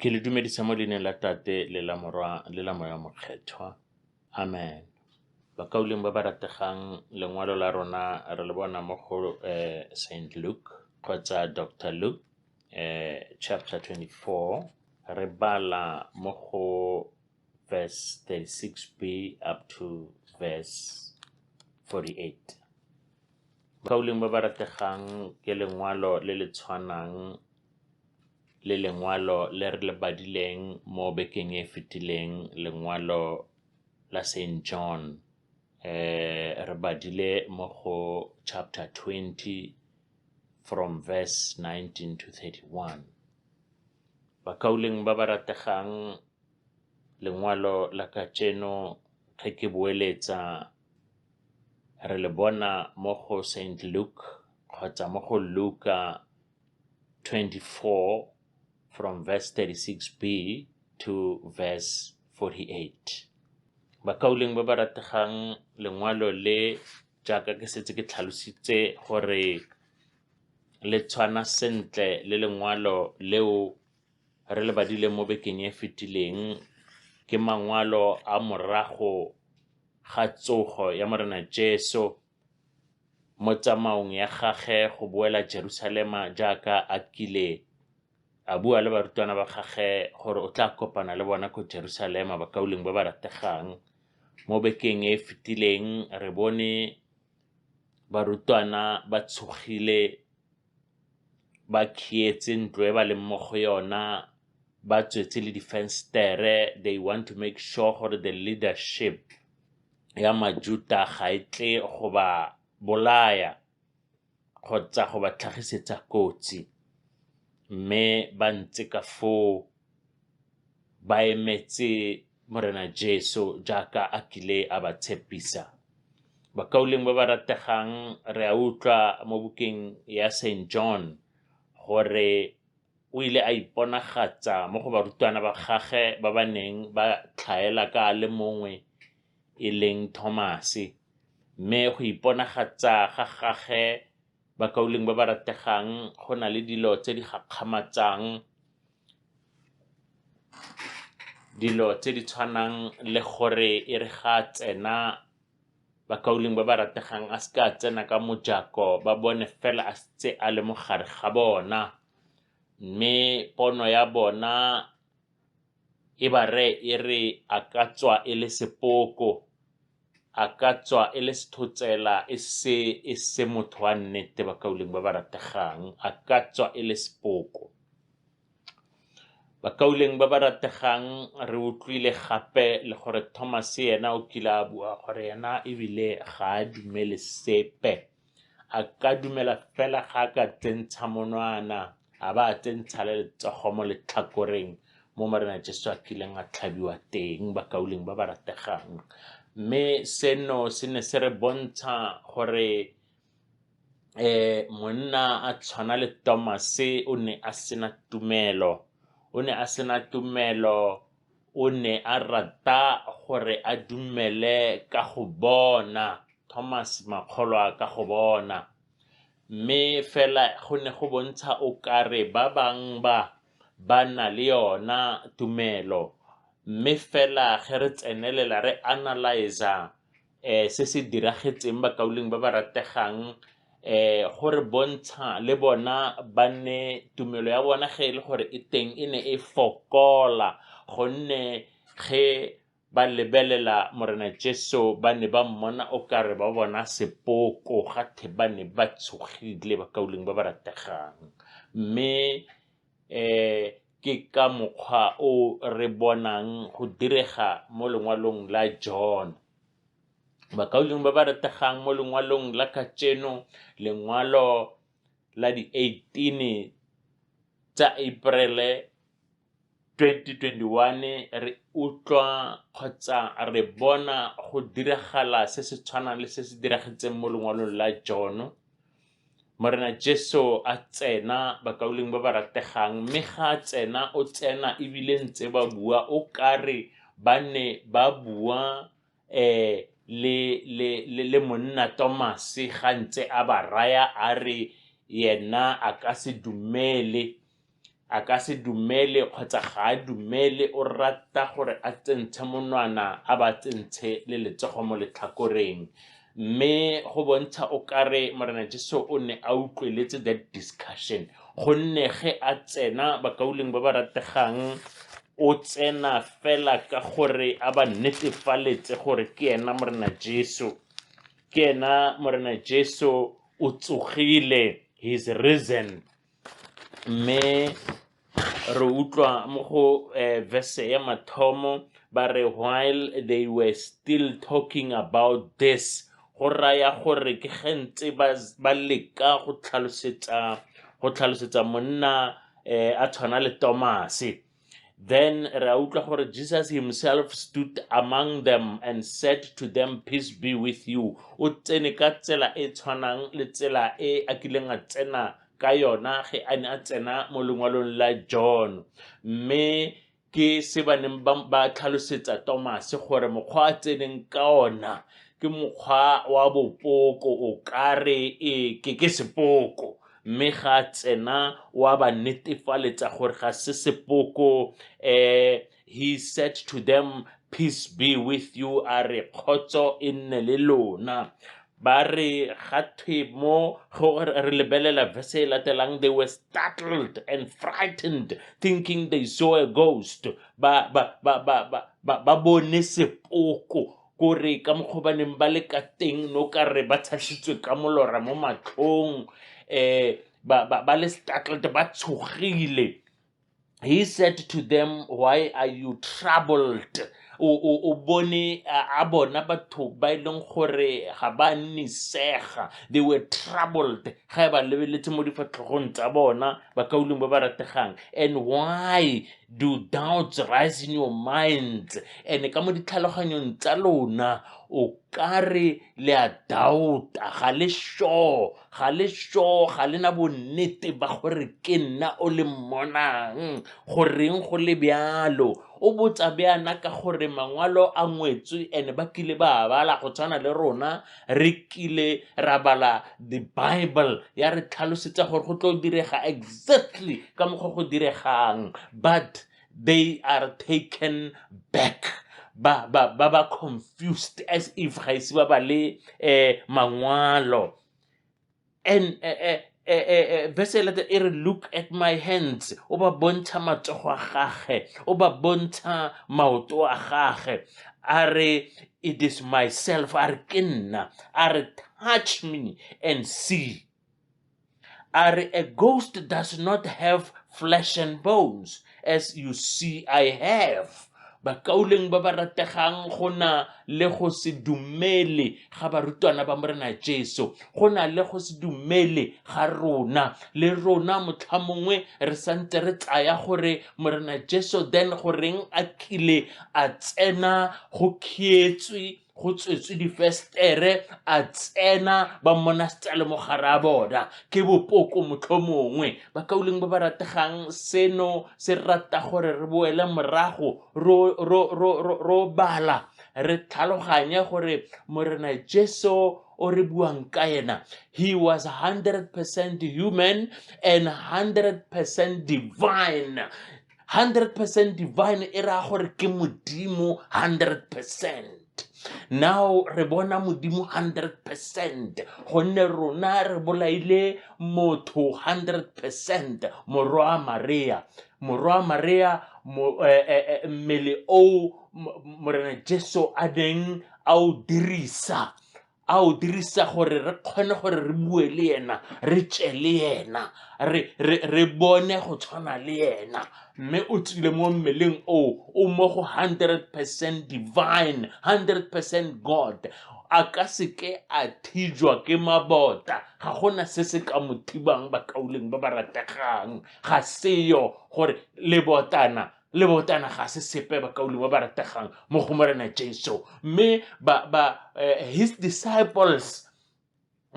Ke le dumedisa mo leineng la Tate le la Morwa le la Moya Mokgethwa. Amen. Bakauleng ba ba rategang lengwalo la rona re le bona mo go eh, St. Luke kgotsa Dr. Luke eh, chapter 24 re bala mo go verse 36b up to verse 48. Bakauleng ba ba rategang ke lengwalo le le tshwanang le lengwalo le re le badileng mo bekeng e fetileng lengwalo la St John eh re badile mo go chapter 20 from verse 19 to 31 bakauleng ba ba rategang lengwalo la kajeno ge ke boeletsa re le bona mo go St Luke kgotsa mo go Luka 24 from verse 36b to verse 48 bakauleng ba ba rategang lengwalo le jaaka ke setse ke tlhalositse gore le tshwana sentle le lengwalo leo re le badile mo bekeng e fetileng ke mangwalo a morago ga tsogo ya morena jesu mo tsamaong ya gagwe go boela Jerusalema jaaka a kile a bua le barutwana ba gagwe gore o tla kopana le bona ko Jerusalema bakauleng ba ba rategang. Mo bekeng e e fetileng re bone barutwana ba tshogile ba khietse ntlo e ba leng mo go yona ba tswetse le difenstere they want to make sure gore the leadership ya Majuta ga e tle go ba bolaya kgotsa go ba tlhagisetsa kotsi, mme ba ntse ka foo ba emetse Morena Jesu jaaka a kile a ba tshepisa. Bakauleng ba ba rategang re a utlwa mo bukeng ya St. John gore o ile a iponagatsa mo go barutwana ba gagwe ba ba neng ba tlhaela ka a le mongwe e leng Thomase, mme go iponagatsa ga gagwe bakauleng ba ba rategang go na le dilo tse di gakgamatsang, dilo tse di tshwanang le gore e re ga a tsena bakauleng ba ba rategang a se ka a tsena ka mojako ba bone fela a setse a le mo gare ga bona. Mme pono ya bona e ba reye e re a ka tswa e le sepoko, a ka tswa e le sethotsela e se e se motho wa nnete bakaulengwe ba ba rategang, a ka tswa e le sepoko. Bakaulengwe ba ba rategang re utlwile gape le gore Thomas ena o kile a bua gore ena ebile ga a dumele sepe a ka dumela fela ga a ka tsentsha monwana a ba a tsentsha le letsogo mo letlhakoreng mo morena jesu a kileng a tlhabiwa teng bakauleng ba ba rategang mme seno se ne se re bontsha gore eh monna a tshwana le tomase o ne a sena tumelo o ne a sena tumelo O ne a rata gore a dumele ka go bona, Thomas Makgolwa ka go bona, mme fela go ne go bontsha o kare ba bang ba ba na le yona tumelo, mme fela ge re tsenelela re analyse-a um se se diragetseng bakaulengwe ba ba rategang um go re bontsha le bona ba nne tumelo ya bona ge e le gore e teng e ne e fokola gonne ge ba lebelela Morena Jesu ba ne ba mmona o kare ba bona sepoko ga the ba ne ba tshogile bakaulengwe ba ba rategang mme ke ka mokgwa o re bonang go direga mo lengwalong la John. Bakaulengwe ba ba rategang mo lengwalong la kajeno, lengwalo la di-eighteen tsa April-e 2021, re utlwa kgotsa re bona go diragala se se tshwanang le se se diragetseng mo lengwalong la John-o. Morena Jesu a tsena bakauleng ba ba rategang mme ga a tsena o tsena ebile ntse ba bua o kare ba ne ba bua um le, le, le, le monna Tomase ga ntse a ba raya a re yena a ka se dumele a ka se dumele kgotsa ga a dumele o rata gore a tsentshe monwana a ba tsentshe le letsogo mo letlhakoreng mme go bontsha o kare morena jesu o ne a utlweletse that discussion gonne ge a tsena bakauleng ba ba rategang o tsena fela ka gore a ba netefaletse gore ke ena morena jesu ke ena morena jesu o tsogile he is risen Mme re utlwa mo go verse ya mathomo ba re while they were still talking about this, go raya gore ke ge ntse ba leka go tlhalosetsa monna a tshwana le Tomase. Then re a utlwa gore Jesus himself stood among them and said to them, Peace be with you. O tsene ka tsela e tshwanang le tsela e a kileng a tsena ka yona ge a ne a tsena mo lengwalong la John. Mme ke se ba neng ba ba tlhalosetsa Tomase gore mokgwa a tseneng ka ona ke mokgwa wa bopoko o kare e ke ke sepoko mme ga a tsena wa ba netefaletsa gore ga se sepoko um he said to them peace be with you a re kgotso e nne le lona ba re ga thwe mo go re lebelela verse e latelang they were startled and frightened thinking they saw a ghost ba ba ba ba ba ba bone sepoko Kore ka mokgwa ba neng ba le ka teng no ka re ba tshasitswe ka molora mo matlhong um ba, ba, ba le startled ba tshogile he said to them why are you troubled o, o, o bone a a bona batho ba e leng gore ga ba nnisega they were troubled ga e ba lebeletse mo difatlhogong tsa bona bakauleng ba ba rategang and why Do doubts rise in your minds? And ka mo ditlhaloganyong tsa lona, o ka re le a doubta, ga le sure, ga le sure, ga le na bonnete ba gore ke nna o le mmonang, goreng go le bjalo. O botsa bjana ka gore mangwalo a ngwetswe and ba kile ba bala go tshwana le rona, re kile ra bala the bible ya re tlhalosetsa gore go tlo direga exactly ka mokgwa go diregang but they are taken back ba ba ba ba confused as if ga ise ba ba le eh mangwalo and eh, eh, eh, eh, eh, verse e late e re look at my hands o ba bontsha matsogo a gage o ba bontsha maoto a gage a re it is myself a re ke nna a re touch me and see a re a ghost does not have flesh and bones As you see, I have. bakauleng ba ba rategang go na le go se dumele ga barutwana ba morena jesu go na le go se dumele ga rona le rona motlha mongwe re santse re tsaya gore morena jesu then goreng a kile a tsena go khietswe go tswetswe difestere a tsena ba mmona setsale mo gare a bona ke bopoko motlho mongwe ba kauleng ba ba rategang seno se rata gore re boele morago ro bala re tlhaloganye gore morena jesu o re buang ka ena he was 100 percent human and 100 percent divine hundred percent divine e raya gore ke modimo hundred percent now re bona modimo 100 percent gonne rona re bolaile motho 100 percent morwa maria morwa maria eh, eh, eh, mmele o morena jesu a neng a o dirisa a o dirisa gore re kgone gore re bue le ena re tše le ena re, re, re bone go tshwana le ena mme o tsile mo mmeleng o o mo go 100 percent divine 100 percent god a ka seke a thijwa ke mabota ga gona se se ka mo thibang bakauleng ba ba rategang ga seyo gore lebotana le botana ga se sepe bakaulengwe ba ba rategang mo go morena jesu mme ba, ba, uh, his disciples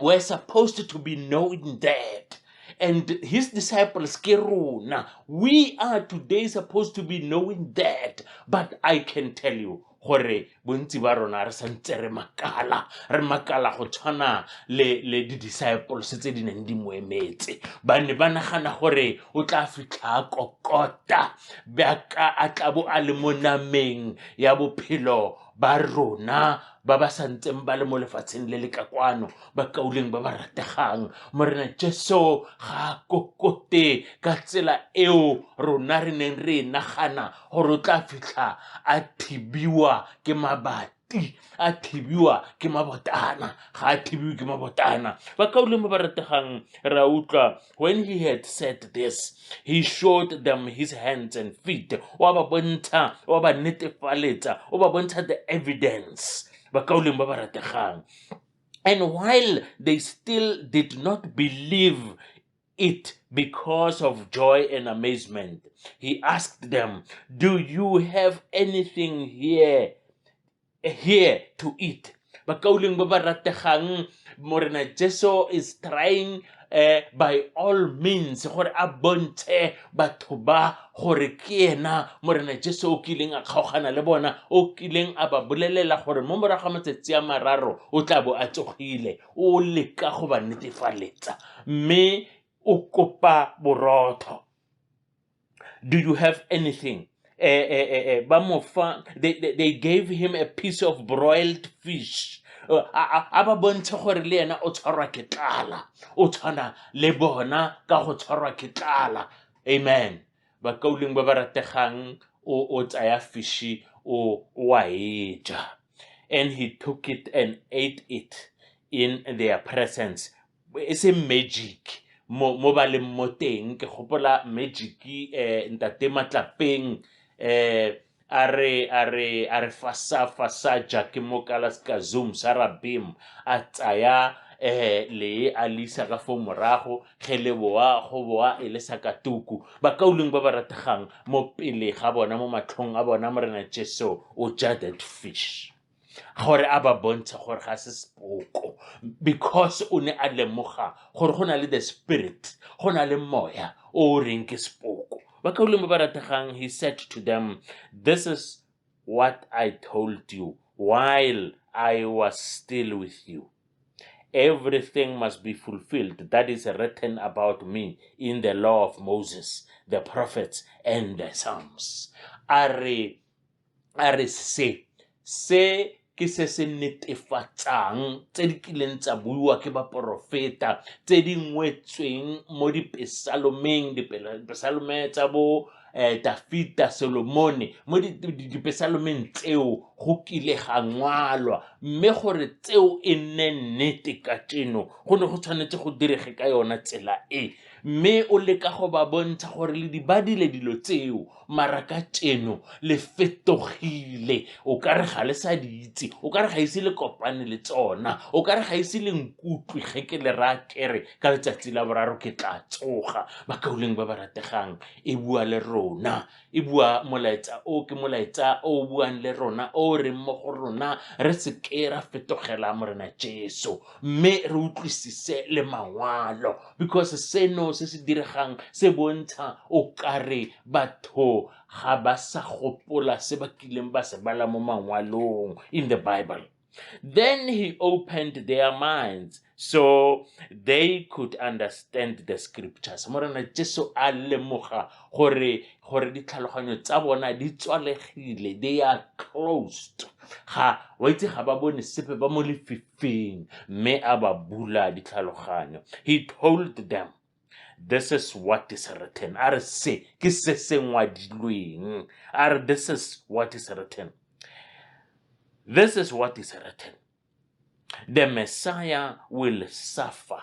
were supposed to be knowing that and his disciples ke rona we are today supposed to be knowing that but i can tell you gore bontsi ba rona re santse re makala re makala go tshwana le le di-disciples tse di neng di mo emetse ba ne ba nagana gore o tla fitlha a kokota bjaka a tlabo a le mo nameng ya bophelo ba rona ba ba santseng ba le mo lefatsheng le le ka kwano ba kauleng ba ba rategang morena jesu ga a kokote ka tsela eo rona re neng re e nagana gore o tla fitlha a thibiwa ke mabati a thibiwa ke mabotana ga a thibiwe ke mabotana ba kaolemo ba rategang ra utlwa when he had said this he showed them his hands and feet wa ba bontsha wa ba netefaletsa o ba bontsha the evidence ba kaolemo ba ba rategang and while they still did not believe it because of joy and amazement. He asked them, Do you have anything here, here to eat? Bakauling babarategang, Morena Jesu is trying eh, by all means gore a bontshe batho ba gore ke ena morena jesu o kileng a kgaogana le bona o kileng a ba bolelela gore mo morago ga matsatsi a mararo o tla bo a tsogile o leka go ba netefaletsa mme o kopa borotho do you have anything eh, eh, eh, eh, ba mo fa they, they, they gave him a piece of broiled fish Uh, a a- a ba bontshe gore le ena o tshwarwa ke tlala o tshwana le bona ka go tshwarwa ke tlala amen bakauleng ba ba rategang o tsaya fishi o wa e ja and he took it and ate it in their presence e se magic mo mo ba leng mo teng ke gopola magic eh ntate matlapeng eh a re a re a re fasa fasa jake mo kala ska zoom sa rabim a tsaya eh le a lisa ka fo morago ge le boa go boa e le sa katuku bakauleng ba ba rategang mo pele ga bona mo matlhong a bona morena jesu o ja that fish gore a ba bontshe gore ga se sepoko because o ne a lemoga gore go na le the spirit go na le moya o o reng ke sepoko ba kaulemo ba rategang he said to them this is what i told you while i was still with you everything must be fulfilled that is written about me in the law of moses the prophets and the psalms a re a re se se ke se se netefatsang tse di kileng tsa buiwa ke baporofeta tse di ngwetsweng mo dipesalomeng dipesalome tsa bo um dafita solomone mo dipesalomeng tseo go kile ga ngwalwa mme gore tseo e nne nnete ka tseno go ne go tshwanetse go direge ka yona tsela e Mme o leka go ba bontsha gore le di badile dilo tseo, mara ka tšeno le fetogile. O ka re ga le sa di itse, o ka re ga ise le kopane le tsona, o ka re ga ise le nkutlwe ge ke le raya kere ka letsatsi la boraro ke tla tsoga. Bakaulengwe ba ba rategang, e bua le rona e bua molaetsa o ke molaetsa o o buang le rona o o reng mo go rona re seke ra fetogela morena jesu mme re utlwisise le mangwalo because seno se se diregang se bontsha o kare batho ga ba sa gopola se ba kileng ba se bala mo mangwalong in the bible Then he opened their minds so they could understand the scriptures. Morena Jesu a lemoga gore gore ditlhaloganyo tsa bona di tswalegile, they are closed. Ga wa itse ga ba bone sepe ba mo lefifing, mme a ba bula ditlhaloganyo. He told them this is what is written a re se ke se se ngwadilweng a re this is what is written this is what is written the messiah will suffer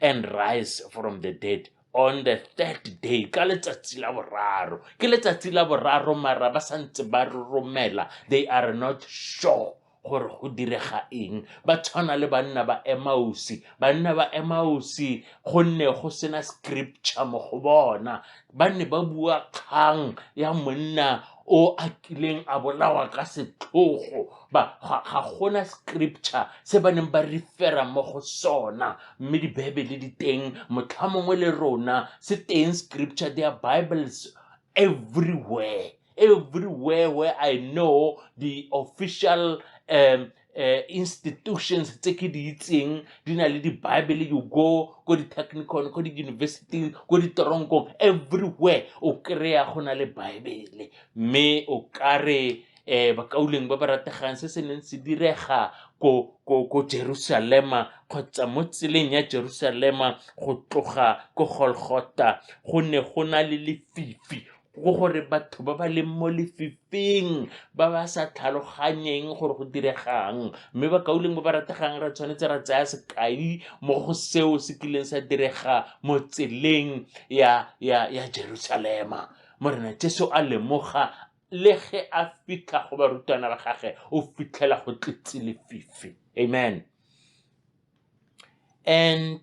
and rise from the dead on the third day ka letsatsi la boraro ke letsatsi la boraro mara ba santse ba romela they are not sure gore go direga eng ba tshwana le banna ba emausi banna ba emausi gonne go sena scripture mo go bona ba ne ba bua kgang ya monna o a kileng a bolawa ka setlhogo ba ga gona scripture se ba neng ba refera mo go sona mme dibebele di teng motlha mongwe le rona se teng scripture their bibles everywhere everywhere where i know the official um, uh, institutions tse ke di itseng di na le di-bible you go ko di-technicon ko di-university ko ditoronkong everywhere o kry-a go na le bible mme o kare um bakauleng ba ba rategang se se neng se direga ko ko ko Jerusalema kgotsa mo tseleng ya Jerusalema go tloga ko Golgotha go ne go na le lefifi go gore batho ba ba leng mo lefifing ba ba sa tlhaloganyeng gore go diregang mme bakauleng ba ba rategang re tshwanetse ra tsaya sekai mo go seo se kileng sa direga mo tseleng ya, ya, ya jerusalema morena jesu a lemoga le ge a fitlha go barutwana ba gage o fitlhela go tletse lefifi amen and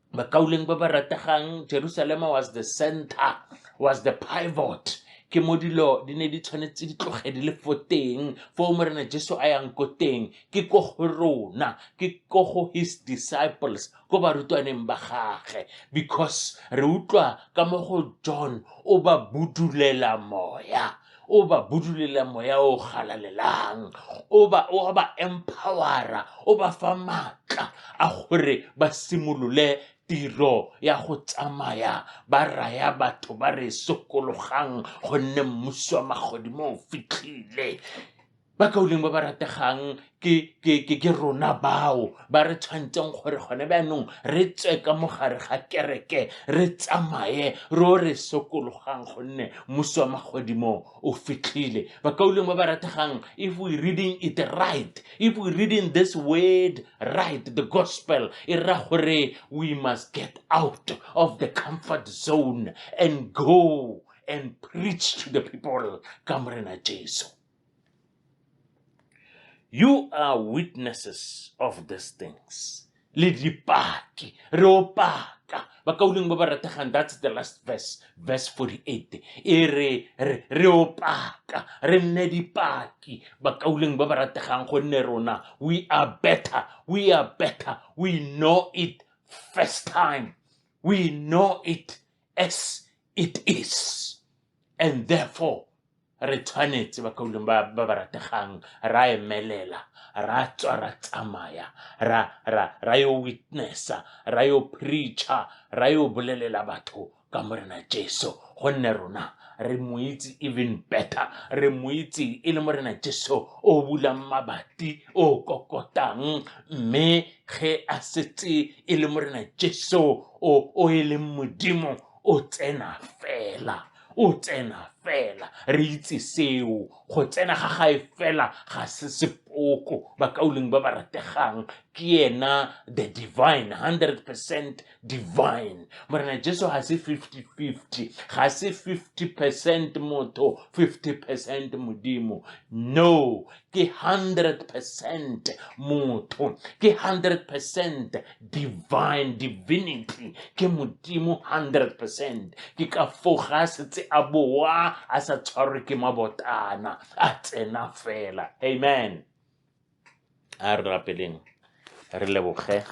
bakauleng ba ba rategang jerusalema was the center was the pivot ke mo dilo di ne di tshwanetse di tloge di le fo teng foo morena jesu a yang ko teng ke ko go rona ke ko go his disciples ko barutwaneng ba gage because re utlwa ka mo go john o ba budulela moya o ba budulela moya o galalelang o ba o ba empowera o ba fa maatla a gore ba simolole tiro ya go tsamaya ba raya batho ba re sokologang gonne mmuso wa magodimo o fitlhile ba kauleng ba ba rategang ke rona bao ba re tshwanetseng gore gone bjaanong re tswe ka mogare ga kereke re tsamaye ro re sokologang gonne mosi wa magodimo o fitlhile bakauleng ba ba rategang if we reading it right if we reading this word right the gospel e ra gore we must get out of the comfort zone and go and preach to the people ka morena jesu You are witnesses of these things. Le dipaki, re opaka. Ba ka uleng ba ba rategang, that's the last verse, verse 48. E re, re, re opaka, re nne dipaki. Ba ka uleng ba ba rategang gonne rona, we are better, we are better, we know it first time. We know it as it is and therefore re tshwanetse ba kauleng ba ba ba rategang ra emelela ra tswa ra tsamaya ra ra ra yo witnessa ra yo preacher ra yo bolelela batho ka morena jesu gonne rona re mo itse even better re mo itse e le morena jesu o bulang mabati o kokotang mme ge a setse e le morena jesu o o e leng modimo o tsena fela, o tsena fela. Re itse seo, go tsena ga gae fela ga se sepoko. Bakaulengwe ba ba rategang ke ena the divine, 100 percent divine. Morena Jesu ga se 50-50, ga se 50 percent motho, 50 percent Modimo. No, ke 100 percent motho ke 100 percent divine divinity ke modimo 100 percent ke ka foga a setse a boa a sa tshwarwe ke mabotana a tsena fela amen a re rapeleng re leboge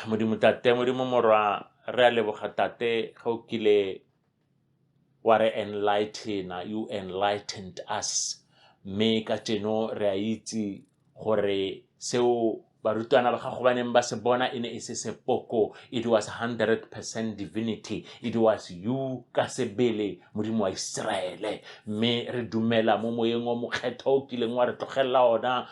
modimo tate modimo morwa re a leboga tate ga o kile wa re enlightena you enlightened us mme ka jeno re a itse gore seo barutwana ba gago ba neng ba se bona e ne e se sepoko it was 100 percent divinity it was you ka sebele modimo wa iseraele mme re dumela mo moyeng wa mokgetho o kileng wa re tlogelela ona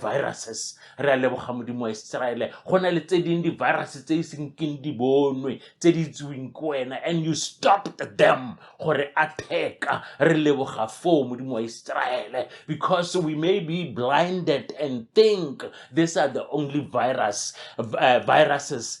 viruses re a leboga modimo wa iseraele go na le tse ding di-virus tse e seng keng di bonwe tse di itseweng ke wena and you stopped them gore a theka re leboga foo modimo wa iseraele because we may be blinded and think these are the only virus uh, viruses